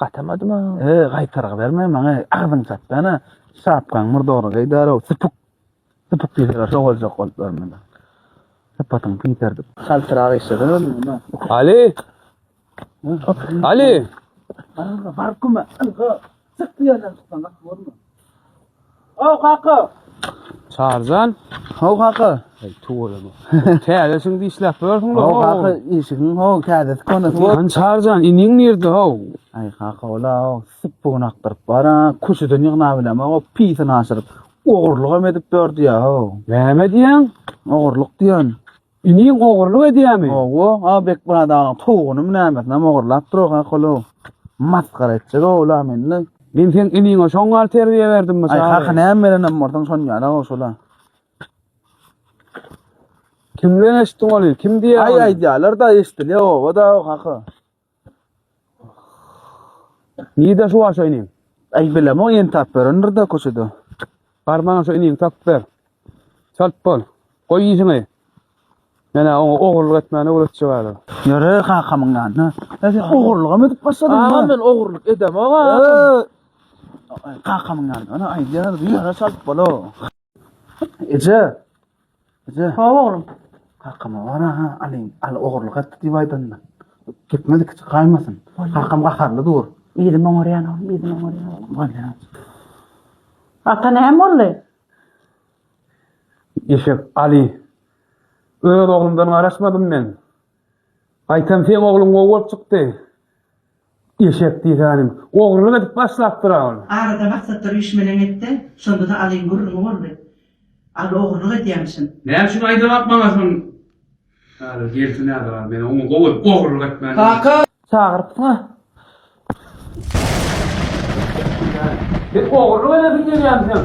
Gatamadyma? He, gaýtarga berme maňa, agzyňy çatdana. Şapkaň murdary geýdärow, süpük. Süpük diýseler şo boljak bolup ýör mende. Sypatyň piterdip. Galtyrak işleden öňe. Ali! Ali! Baryň, baryň köme. Ylga, çyk diýerler, çyksaňyz bolma. Ho kaka. Çarjan. Ho kaka. Ey tuwalama. Täzesin dişläp görüň lo. Ho kaka işiň ho täzesi konusy bor. Lan Çarjan iniň nirde ho? Ay kaka ola o sıpbun akdyryp bara kuşudan ýygna bileme o pisini aşyryp ogurluk hem edip dördi ya ho. Näme diýen? Ogurluk diýen. Iniň ogurlyk edýämi? Hawa, a Bekmyrat agaň towugynymy nämesinem ogurlap dur oha kolow. Masgara etjek oglum indi. Men seň iniňe şoň ýaly terbiýe berdimmi çaga? Aý kaka näme berenem bolsaň şon ýaly goşula. Kimden eşitdiň ony? Kim diýýär ony? Aý aýdýarlar-da eşdilýär oba-da kaka. Nirde şu wagşa iniň? Aý bilemok ýene tap berendir-de köçede. Bar maňa şu iniňi tapyp ber. Çalt bol. Goý işiňi. Men-ä oňa ogurlyk etmäni öwretjek häzir. Ýöre kakamyň ýanyna. Hä sen ogurlygam edip başladyň. Agam men ogurlyk edemok agam. Kakamyň ýanyna aýdýarys ýöre çalt bol-ow. Eje! Eje! Hawa, oglum. Kakama bar ha, alyň, al ogurlyk etdi diýip aýdanda. Gitmez iki çykaýmasyn. Kakam gaharly dur. Ýüzüm oňarýan, oglum, ýüzüm oňarýan. Bolýa. Ata näme boldy? Eşek, Aly. Öz oglumdan garaşmadym men. Gaýtam seň ogluň gowy bolup çykdy. Eşek diýsänim, ogrulyk edip başlapdyr-a ol. Arada maksatlar üýşmeleň etdi, şonda-da Alyň gürrüňi boldy. Aly ogrulyk edýämişin. Näme üçin aýdabak maňa şony? Häzir gelsin ädibap, men oňa gowy edip ogrulyk etmändigi. Kaka! Çagyrypsyň-a? Sen ogrulyk edesiň gelýämişem.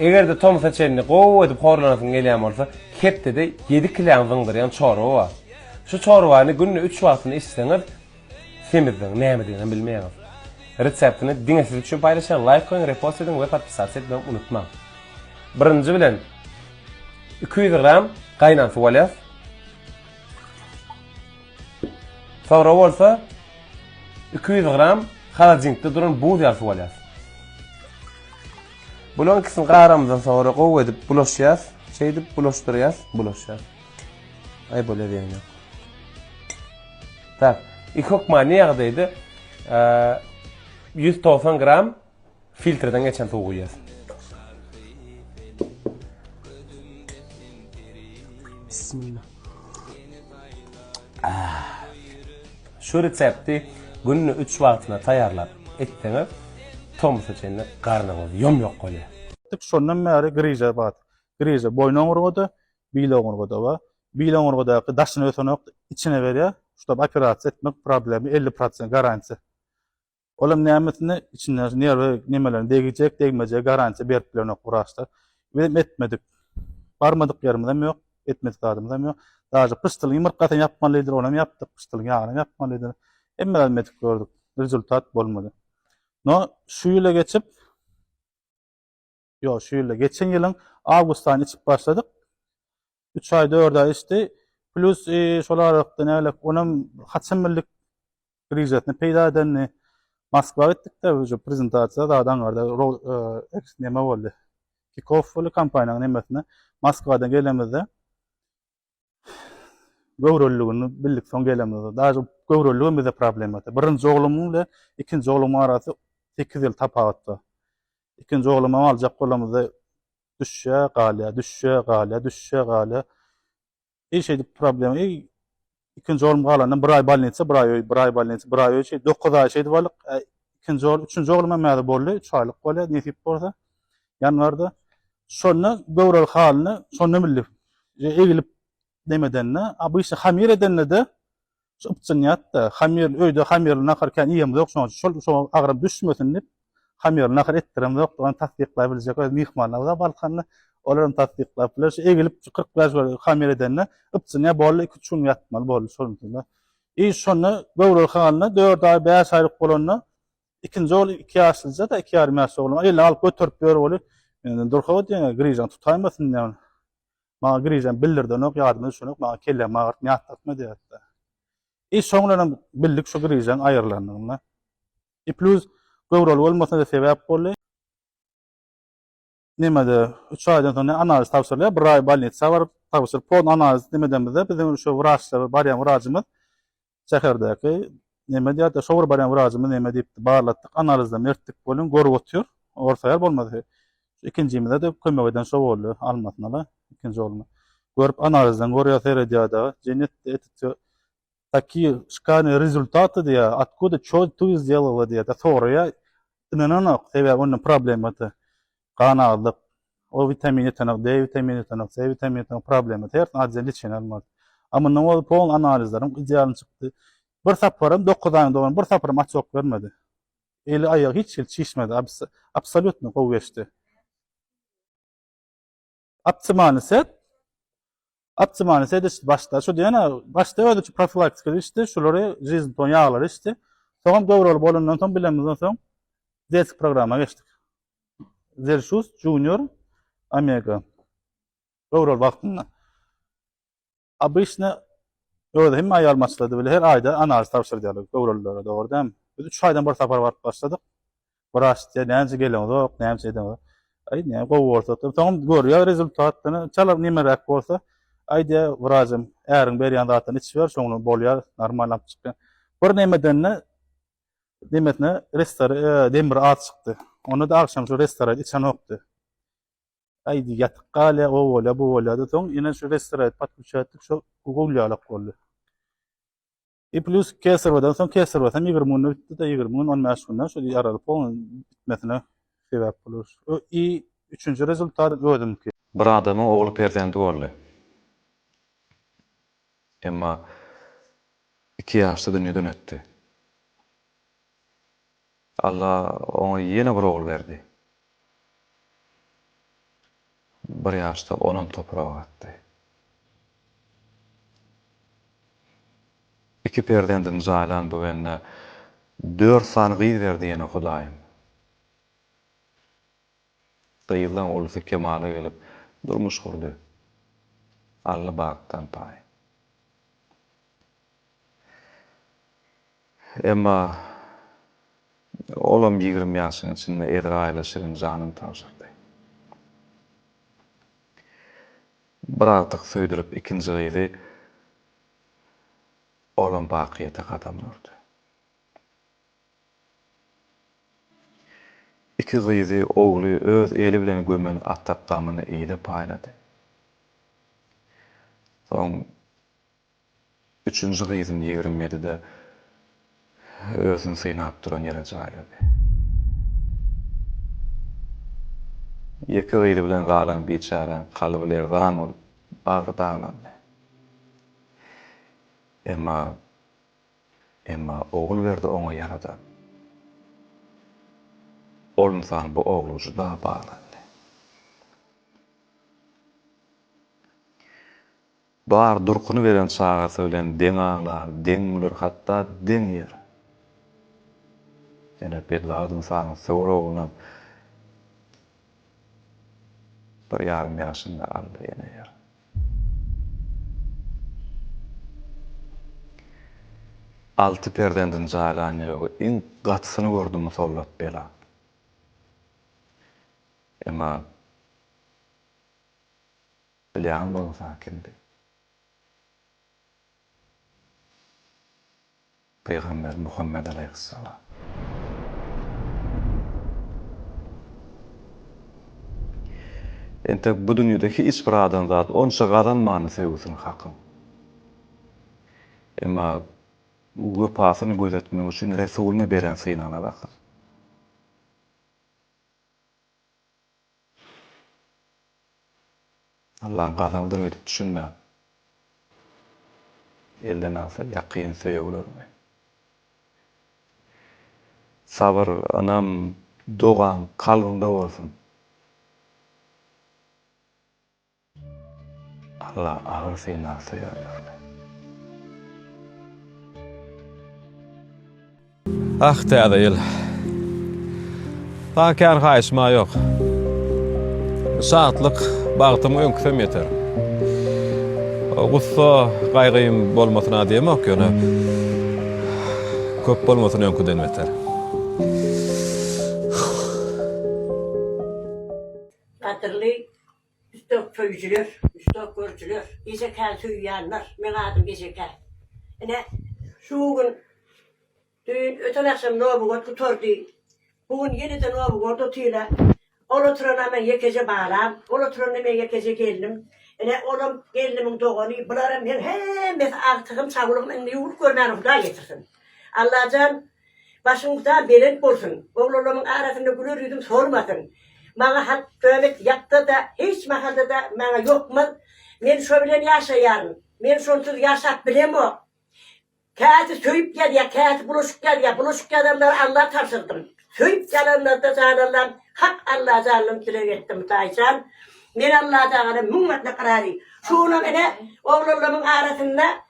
Eger-de tomsa çenli gowy edip horlanasyň gelýän bolsa, hepdede ýedi kiläň zyňdyrýan çorba bar. Şu çorbany günde üç wagtyny içseňiz, Semiziň nämediginem bilmeýäňiz. Reseptini diňe siz üçin paýlaşýan laýk goýuň repost ediň we podpisatsa etmegi unutmaň. Birinji bilen iki ýüz gram gaýnan suw alýas. Soňra bolsa iki ýüz gram halodilnikde duran buz ýaly suw alýas. Bularyň ikisini garamyzdan soňra gowy edip bulaşýas. Şeýdip bulaşdyrýas, bulaşýas. Aý bolýar ýeňňe. Tak, iki hökmany ýagdaýda ýüz togsan gram filtrden geçen suw guýýas. Bismillah. Şu resepti günde üç wagtyna taýýarlap etseňiz, tomsa çenli garnyňyz ýom-ýok bolýar. Şondan bäri griža bar. Griža boýun oňurgada, bil oňurgada bar. Bil oňurgadaky daşyna ösenok içine berýä şuda operasiýa etmek problemi elli prosent garantiýa olam nämesine içinde nerwi nemeler degijek degmejek garantiýa berip bilenok wraçlar bizem etmedik barmadyk ýerimizem ýok etmedik zadymyzam ýok daže pyşdylyň ýumurtgasyny ýapmalydyr onam ýapdyk pyşdylyň ýagyny ýapmalydyr hemme zady medik gördük rezultat bolmady no şu ýyla geçip Ýok, şu ýylda. Geçen ýylyň awgustdan içip başladyk. Üç aý, dört aý içdi. Plyus şol aralykda nägeläk, onam haçan bildik grižasyny peýda edenini. Moskwa gitdik-de, uje prezentasiýa zat aňarda neme boldy. Kikow boldy kompaniýanyň nemesine. Moskwadan gelenimizde göwreliligini bildik soň gelenimizde. Daže göwreliligem bize problema etdi. Birinji oglumyň ile ikinji oglumyň arasy 8 ýyl tapawutda. Ikinji oglumy aljak bolamyzda düşýä, galýa, düşýä, galýa, düşýä, galýa. Eý şeýdip problem, eý ikinji oglum galandan bir aý bolnitsa, bir aý öý, bir aý bolnitsa, bir aý öý, şeýdip 9 aý şeýdip alyk. Ikinji ogul, üçünji oglum hem boldy, 3 aýlyk bolýa, nesip bolsa. ýanwarda. Şonda göwreli halyny şonda bildi. Egilip nemedende, abyşy hamir edende-de ypjynýat-da, hamir öýde hamirli nahar kän iýemizok, ýok şoň şol şoňa agram düşmesin diýip, hamirli nahar etdiremizok, ony tassyklap biljek öz myhmanlarymyz-a Balkanda, olar hem tassyklap biler, şu egilip kyrk bäş bir hamir edende ypjynýa boldy, iki-üç gün ýatmaly boldy şonuň üçin-de. I şonda göwreli halyny dört aý, bäş aýlyk bolanda Ikinji ogly iki ýaşlyja-da, iki ýarym ýaşly oglan. Eline alyp göterip ýör oly. Indi durka diýen, Grižan tutaýmasyn diýen. Maňa Grižan bildirdenok, ýadyma düşenok, maňa kellämi agyrtma, ýatlatma diýýärdi. I şoň bilenem bildik şu Grižanyň aýrylandygyny. I plus göwreli bolmasyna-da sebäp boldy. Nemede üç aýdan soň ne analiz tabşyrylýar, bir aý bolnitsa baryp tabşyryp, pon analiz nemedemizde biziň şu wraçlar barýan wrajymyz şäherdäki neme diýýärdi, şowur barýan wrajymyz neme diýipdi, barlatdyk, analizleme ertdik welin görüp otyr, orta ýer bolmady. Ikinjimize-de kömek eden şo boldy, almasyna-la ikinji ogluma. Görüp analizden görýär, seredýär dagy, jeň etdi, etdi, Taki şkany rezultaty diýä, otkuda ço tu zdelala diýä de soraýa. Ynananok, sebäbi onda problema ty. Gan azlyk, o witamin ýetenok, de witamin ýetenok, se witamin ýetenok, problema ty. Hersin adja liçeni almaly. A mundan ozal polny analizlerim idealny çykdy. Bir saparam dokuz aýyň dowam, bir saparam açyok bermedi. Eli aýagy hiç hili çişmedi. Abs absolýutno gowy geçdi. Optimany set. Optimany set işte başda şu diýene başda özi şu profilaktika işte şulary jizn ton ýaglary işte. Soňam göwreli bolandan soň bilemizden soň desk programma geçdik. Zelşus Junior Omega. Göwreli wagtynda. Обычny özi hemme aýalmaçlady bile her aýda analiz tabşyrdýarlar göwrelilere dogry dämi? Biz üç aýdan bir sapar baryp başladyk. Wraç diýýär, näce geleňzok, näce edeňzok. Aý näme gowy bolsa diýip, soňam görýär rezultat ýöne çala nemeräk bolsa, aý diýýär wraçym, äriň berýän zadyny içiber, şoň bilen bolýar, normalny alyp çykýar. Bir nemedende nemesine restora demri az çykdy. Onda-da agşam şu restoraýt içenokdy. Aýdy, ýatyp gal-a, o bolýa, bu bolýa-da, soň ýene şu westeraýt podkuçýatdik, şo gowýalak boldy. I plýus kesirwadan soň kesirwa hem ýigrimi günde bitdi-de, ýigrimi gün, on bäş gün-ä şol I aralyk bolan bitmesine sebäp bolar. Şu I üçünji rezultat özümki. Bir adamyň ogly perzendi boldy. Emma iki ýaşda dünýeden ötdi. Alla oňa ýene bir ogul berdi. Bir ýaşda onam topraga gatdy. Iki perzendini jaýlan bu bende dört sany gyz berdi ýene Hudaýym. Gyzlaň ulysy kemala gelip, durmuş gurdy. Alla bagtdan paý. Emma olam ýigrimi ýaşyň içinde Ezraýyla şirin janyny tabşyrdy. Bir agtyk söýdürip ikinji gyzy olam bakyýete gadam urdy. Iki gyzy, ogly öz eli bilen gömen ata gamyny ile paýlady. Soň üçünji gyzyny ýigrimi ýedide özüni synap duran ýere jaýlady. Ýeke gyzy bilen galan biçäräň kalby lerzan bolup, bagry daglandy. Emma Emma Ogulberdi oňa ýarada. Ol ynsan bu ogla juda baglandy. Bar durkuny beren çagasy bilen deň aglar, deň güler, hatda deň ýer. Ýöne Bedibagyt ynsanyň söwer oglunam bir ýarym ýaşynda aldy, ýene ýer. Alty perzendini jaýlan ýögi iň gatysyny gördi musallat bela. Emma bilýän bolsa kimdi? Pygamber Muhammet alaýhyssalam. Entek bu dünýede hiç bir adam zat onça gazanmandy söýgüsini Hakyň. Emma wepasyny gözetmek üçin Resulyna beren synagynada Hakyň. Allaň gazaldyr edip düşünmän elden alsa ýakyn söýeglerňi. Sabyr ynam dogan kalbyňda bolsun. Alla agyr synag söýer ýöne. Ah täze ýyl. Saňa kän haýyşym-a ýok. Şatlyk, bagtym öňküsem ýeter. Gussa, gaýgym bolmasyn-a diýemok ýöne. Köp bolmasyn öňküden beter. Gadyrly Usta söýüjiler, usta görüjiler, Gejekäni söýýänler, meň adym Gejekän. Ine, şu gün, düýn, öten agşam Nowy god gutardy. Bu gün ýene-de Nowy god otyna. Ol oturana meň ýekeje balam, ol oturana meň ýekeje gelnim. Ine, olam gelnimiň dogany, bularam meň hemmesi agtygym, çawlygym, indi ýuwlup görmäne Hudaý getirsin. Allajan Başyň ta belent bolsun. Oglanlarymyň arasynda güler ýüzüm solmasyn. Maňa halk töwet ýapsa-da, hiç mahalda-da maňa ýokmaz. Men şo bilen ýaşaýaryn. Men şonsuz ýaşap bilemok. Käsi söýüp ýazýar, käsi bulaşyk ýazýar. Bulaşyk ýazanlary Alla tabşyrdym. Söýüp ýazanlarda jan Allam, hak Alla janyny dileg etdim, Taýçan. Men Allatagala müň mertlik razy. Şu günam ine, oglanlarymyň arasynda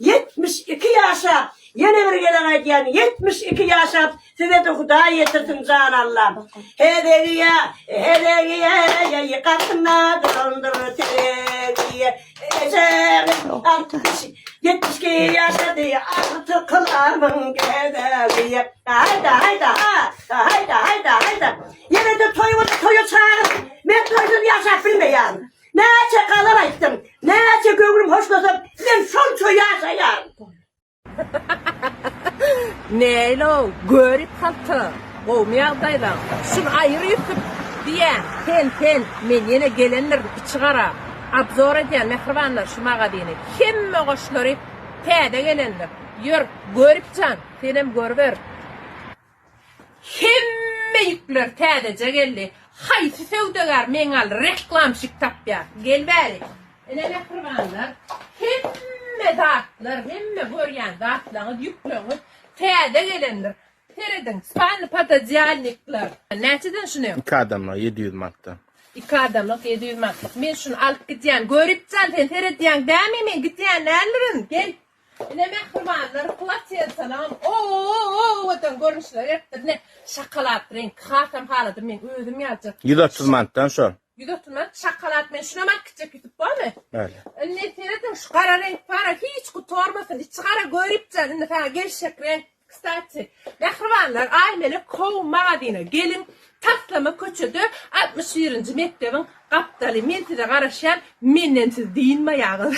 Ýetmiş iki ýaşap ýene bir gezek aýdýan ýetmiş iki ýaşap sizede hudaý ýetirsin jan Allam hezegiýe hezegiýe ýeýi gatyna dolandyr tezegiýe ejemiz altmyş ýetmiş iki ýaşady alty kylamyň gezegiýe haýda haýda ha haýda haýda haýda ýenede toý bolsa toýa çagyr men toýsuz ýaşap bilmeýän. Näçe gazal aýtsam, näçe göwnüm hoşlasa, men şonça ýaşaýaryn. Neýl-ow, görip halta, gowmy ýagdaýlaň? Şuny aýyr Ýusup, diýýän. Sen, sen, men ýene gelendirin, içigara. Abzor edýän, mähribanlar, şu magazyny. Hemme goşlary täze gelendir. Ýör, Görip jan, senem görüber. Hemme ýükler täzeje geldi. Haýsy söwdagär meňal reklamşik tapýar. Gel bäri. Ine mähribanlar. Hemme zatlar, hemme görýän zatlaňyz, ýükleňiz täze gelendir. Serediň, spalny pododyalnikler. Näçeden şuny? Iki adamlyk ýedi ýüz manatdan. Iki adamlyk ýedi ýüz manatlyk. Men şuny alyp gidýän. Göripjan sen seredýäň dämi men gidýän nälirin. Gel. Ine mähribanlar platin salam owadan görnüşler beripdir ine şokolad reňki hasam haladym men özüm ýaljak. 130 manatdan şo. 130 manat şokolad men şuna mak gitjek ýutup bormy? Bäli. Indi serediň şu gara reňk para hiç gutarmasyn içi gara göripjan indi saňa gelşek reňk kstati mähribanlar aýmelek home magazine geliň taslama köçede 61 nji mekdebiň gapdaly men size garaşýan menden siz dynmaýaňyz.